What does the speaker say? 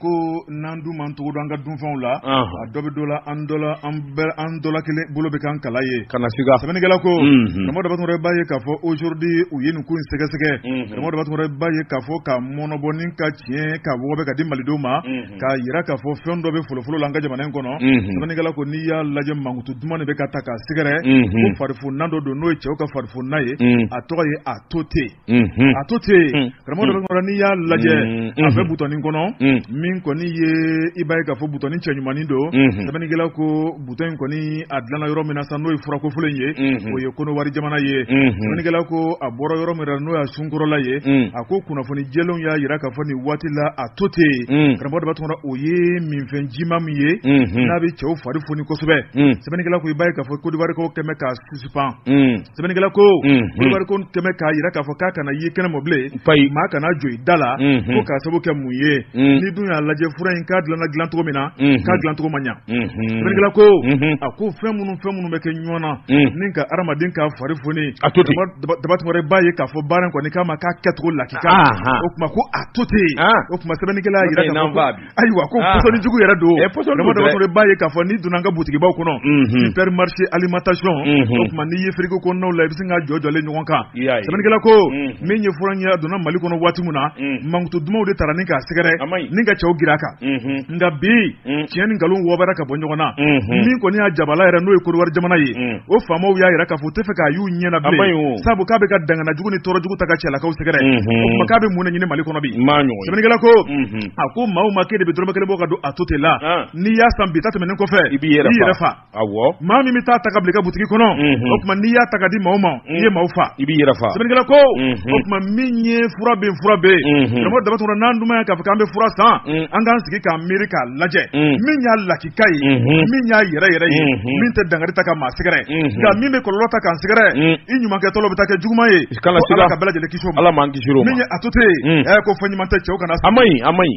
ko n'an dun man cogo don an ka dunfɛnw la a dɔ bɛ dɔ la an dɔ an bɛ an dɔ la kelen bolo bɛ kan kala ye kana siga sɛbɛnnikɛla ko karamɔgɔ daba tunkara b'a ye k'a fɔ aujourd'hui u ye nin ko in sɛgɛsɛgɛ karamɔgɔ daba tunkara b'a ye k'a fɔ ka mɔnɔbɔ ni ka tiɲɛ ka wɔgɔbɛ ka di malidenw ma k'a jira k'a fɔ fɛn dɔ bɛ folofolo la an ka jamana in kɔnɔ sɛbɛnnikɛla ko n'i y'a lajɛ mankutu duman de bɛ ka ta k'a sɛgɛrɛ ko farifoninan dɔ don n'o ye cɛw ka farifoninan ye a tɔgɔ ye atote atote karamɔgɔ daba tunkara n'i y'a lajɛ a bɛ butɔnin kɔnɔ min kɔni ye i b'a ye k'a fɔ butɔnin cɛɲumannin don sɛbɛnnikɛla ko butɔn in kɔni a dilanna yɔrɔ min na sa n'o ye fura kofɔlen ye o ye kɔnɔwari jamana ye sɛbɛnnikɛla ko a bɔra yɔrɔ min na n'o y'a sunkɔrɔla ye a ko kunnafoni jɛlenw y'a jira k'a fɔ nin waati la atote karamɔgɔ daba tunkara o ye minfɛn jima min ye n'a bɛ cɛw fari foni kosɛbɛ sɛbɛnnikɛla ko i b'a ye k'a fɔ kodiwari kɛmɛ suspend sɛbɛnnikɛla ko kodiwari ko kɛmɛ k'a jira k'a fɔ k'a kana ye kɛnɛma bilen maa kana jɔ i da la ko k'a sababu kɛ mun ye n'i dun y'a lajɛ fura in k'a dilanna dilancogo min na k'a dilancogo ma ɲa sɛbɛnnikɛla ko a ko fɛn minnu fɛn minnu bɛ kɛ ɲɔgɔn na ni ka hadamaden ka fari foni daba tunkara b'a ye k'a fɔ baara in kɔni k'a ma k'a kɛcogo lakika o tuma ko atote o tuma sɛbɛnnikɛla jira ayiwa ko ah. pɔsɔni jugu yɛrɛ don eh, daba tunkara b'a ye k'a fɔ n'i donna an ka butigibaw kɔnɔ mhm. supermarché alimentation mhm. o tuma n'i ye frigo kɔnɔnaw la i bɛ sin k'a jɔjɔlen ɲɔgɔn kan sɛbɛnnikɛla ko mhm. min ye fura in ye donna mali kɔnɔ waati min na mankutu dumanw de tara ni k'a sɛgɛrɛ ni ka cɛw gira a kan nka bi tiɲɛ ni nkalon wɔɔbɛra ka bɔ ɲɔgɔn na min kɔni y'a jabala yɛrɛ n'o ye kodiwari jamana ye o faamaw y'a jira k'a fɔ u t'a fɛ k'a y'u ɲɛ na bilen sabu k'a bɛ ka dangana jugu ni tɔɔrɔ jugu ta ka cɛlakaw sɛgɛrɛ o tuma k'a bɛ mun de ɲini mali kɔnɔ bi sɛbɛnnikɛla ko a ko maa o maa k'e de bɛ dɔrɔmɛ kelen bɔ ka don atote la n'i y'a san bi ta tɛmɛnen kɔfɛ i b'i yɛrɛ fa maa min bɛ taa ta ka bila i ka butigi kɔnɔ o tuma n'i y'a ta ka di maaw ma i ye maaw fa i b'i yɛrɛ fa sɛbɛnnikɛla ko o tuma min ye fura bɛ fura bɛ karamɔgɔ daba tunkara n'an dun y'a k'a fɔ k'an bɛ fura san an k'an sigi k'an miiri k'a lajɛ min y'a lakika ye min y'a yɛrɛ yɛrɛ ye min tɛ dangari ta ka maa sɛgɛrɛ nka min bɛ kɔlɔlɔ ta k'an sɛgɛrɛ i ɲumankɛtɔ bɛ taa kɛ juguman ye kana siga Ala ka bɛɛ lajɛlen kisi o ma Ala m'an kisir'o ma min ye atote ye unn ɛ ko fɛn ɲuman tɛ cɛw kana a maɲi a maɲi